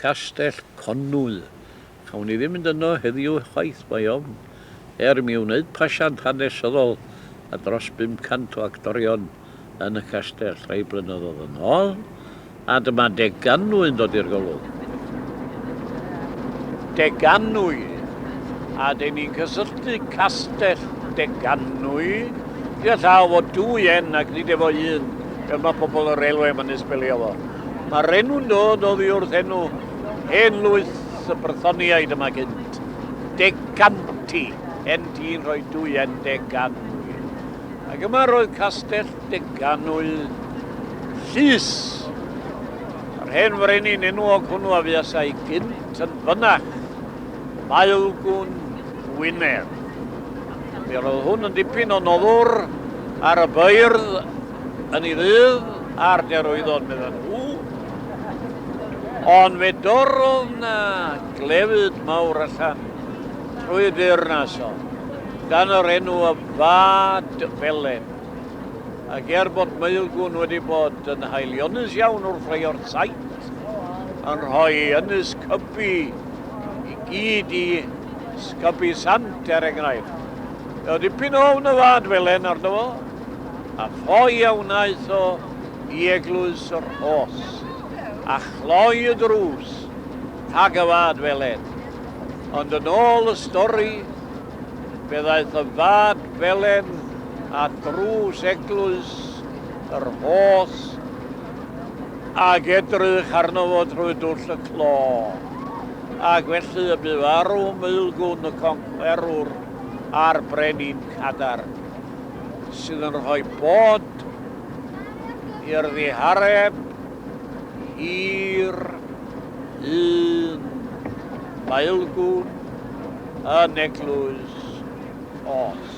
Castell Conwy. Cawn ni ddim mynd yno heddiw chwaith, mae ofn, er i mi wneud pasiant hanesyddol a dros 500 o actorion yn y castell rhai blynyddoedd yn ôl, a dyma deganwy yn dod i'r golwg. Deganwy. A dyn ni'n cysylltu Castell Deganwy gyda llaw o dwy 'n' ac nid efo un, fel mae pobl y railwê yn fy nysbelio fo. Mae'r enw'n dod oddi wrth enw hen lwyth y Brythoniaid yma gynt. Decanti, enti'n rhoi dwyen Deganwy. Ac yma roedd castell Deganwy llys. Yr hen frenin enwog hwnnw a fuasai gynt yn fynach, Maelgwn Gwynedd. Mi roedd hwn yn dipyn o noddwr ar y beirdd yn ei ddydd ar derwyddon, medden nhw, ond fe dorrodd na glefyd mawr allan trwy y deyrnas o, dan yr enw y Fad Felen. Ac er bod Maelgwn wedi bod yn haelionus iawn wrth leio'r saith, yn rhoi ynys cybu i gyd i sgybu sant, er enghraifft. Oedd dipyn o ofn y Fad Felen arno fo, a ffoi a wnaeth o i Eglwys y Rhos, a chloi y drws, tag y fad feled. Ond yn ôl y stori, fe ddaeth y fad felen at drws Eglwys y Rhos ac edrych arno fo drwy dwll y clo, ac felly y bu farw Maelgwn y Conquerwr a'r Brenin Cadar. sydd yn rhoi bod i'r ddihareb hir un maelgwn yn eglwys os.